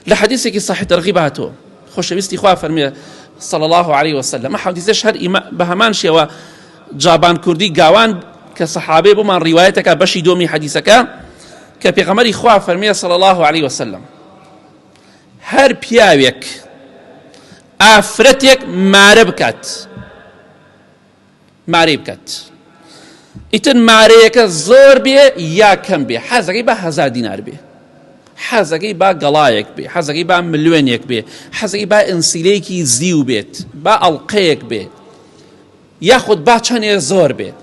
لە حەدیسێکی صحیح تەرغیب هاتووە خۆشەویستی خوا فەرمێ صلی الله علیه وسلم ئە حەدیسەش هەر بە هەمان شێوە جابان کوردی گاوان کە سەحابێ بۆمان ڕیواەتەکە بەشی دۆمی حەدیسەکە کە پێغەمەری خوا فەرمیە صلی الله عليه وسلم هەر پیاوێک ئافرەتێک مارە بکات مارەی بکات ئیتر مارەیەکە زۆر بێ یا کەم بێ حەزەکەی بە هزار دینار بێ حەزەکەی با گەڵایەک بێ حەزەکەی با ملوێنێک بێ حەزەکەی با ئەنسیلەیەکی زیو بێت با ئەڵلقەیەک بێ یاخود با چەنێ زۆر بێت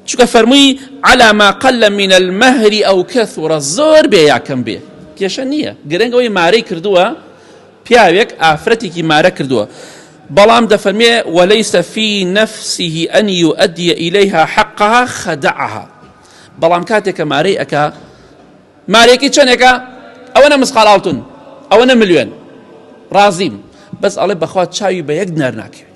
چکە فەرمووی علاما قل لە منە المەهری ئەو کەسوڕە زۆر بێ یاکەم بێ کێشە نییە گرنگەوەی مارەی کردووە پیاوێک ئافرەتێکی مارە کردووە، بەڵام دەفەرمێ، ولیس فی نفسه ان یؤدی الیها حقها خدعها، بەڵام کاتێک کە مارەی ئەکا، مارێکی چەنێکە؟ ئەوەنە مسقال ئاڵتون، ئەوەنە ملوێن، ڕازیم، بەس ئەڵێ بەخوا چاوی بە یەک دینار ناکەوێ.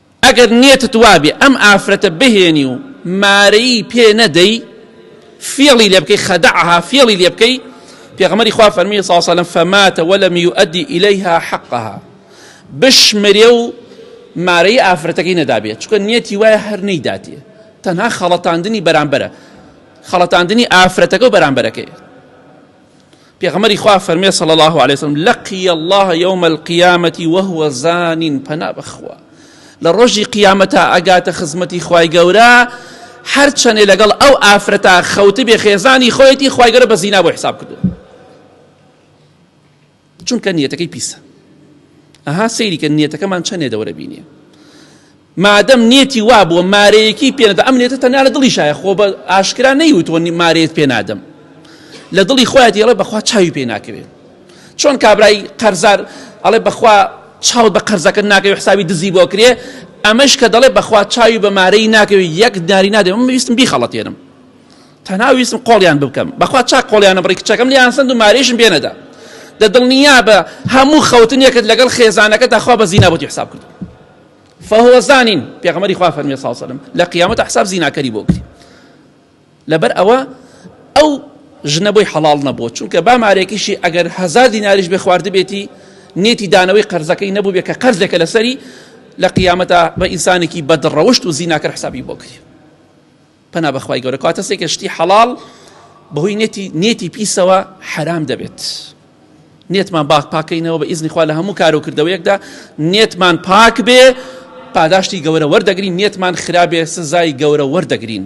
ئەگەر نیەتت وابێ ئەم ئافرەتە بهێنی و مارەیی پێ نەدەی فێڵی لێ بکەی خەدەعها فێڵی لێ بکەی پێغەمەری خوا فەرمی ساسەلم فەماتە وەلم یؤدی ئیلەیها حەقها بشمرێ و مارەی ئافرەتەکەی نەدابێت چکە نیەتی وایە هەر نەیداتێ تەنها خەڵەتاندنی بەرامبەرە خەڵەتاندنی ئافرەتەکە و بەرامبەرەکەی پێغەمبەری خوا فەرمێ صلی الله علیه وسلم لقی الله یوم القیامة وهو زان پەنا بەخوا لە ڕۆژی قیامەتا ئەگاتە خزمەتی خوای گەورە هەرچەنێ لەگەڵ ئەو ئافرەتا خەوتی بێ خێزانی خۆیەتی خوای گەورە بە زینا بۆ حساب کردو چونکە نیەتەکەی پیسە ئەها سەیریکە نیەتەکەمان چەندێ دەورە بینیە مادەم نیەتی وا بووە مارەیەکی پێ نەدا ئەم نیەتە تەنیا لە دڵی شایە خۆ بە ئاشکرا نەیوتوە مارەیەت پێ نادەم لە دڵی خۆیان دێڵێ بەخوا چاوی پێ ناکەوێت چۆن کابرای قەرزار ئەڵێ بەخوا چاوت بە قەرزەکە ناکەوێت حسابی دزی بۆ کرێ ئەمەش کە دەڵێ بەخوا چاوی بە مارەی ناکەوێت یەک داری نادێ من ویستم بیخەڵەتێنم تەنها ویستم قۆڵیان بکەم بەخوا چاک قۆڵیانە بڕی کچەکەم لیان سند و مارێشم بێنەدا دە دڵنیا بە هەموو خەوتنێکت لەگەڵ خێزانەکە داخوا بە زینا بۆتی حساب کرد فهو زانین پێغەمبەری خوا فەرمی صلی الله علیه لە قیامەت حساب زیناکەری بۆ گری لەبەر ئەوە ئەو ژنە بۆی حەڵال نەبووە چونکە با مارێکیشی ئەگەر هزار دیناریش بێ خواردبێتی نێتی دانەوەی قەرزەکەی نەبوو بێ کە قەرزێکە لەسەری لە قیامەتە بە ئینسانێکی بەدڕەوشت و زیناکە حسابی بۆ کرد پەنا بەخوای گەورە کەواتە سێکە شتی حەڵاڵ بەهۆی نێتی نێتی پیسەوە حرام دەبێت نێتمان باک پاکەینەوە بە ئیزنی خوا لە هەموو کار و کردەوەیەکدا نێتمان پاک بێ پاداشتی گەورە وەردەگرین نێتمان خراپێ سزای گەورە وەردەگرین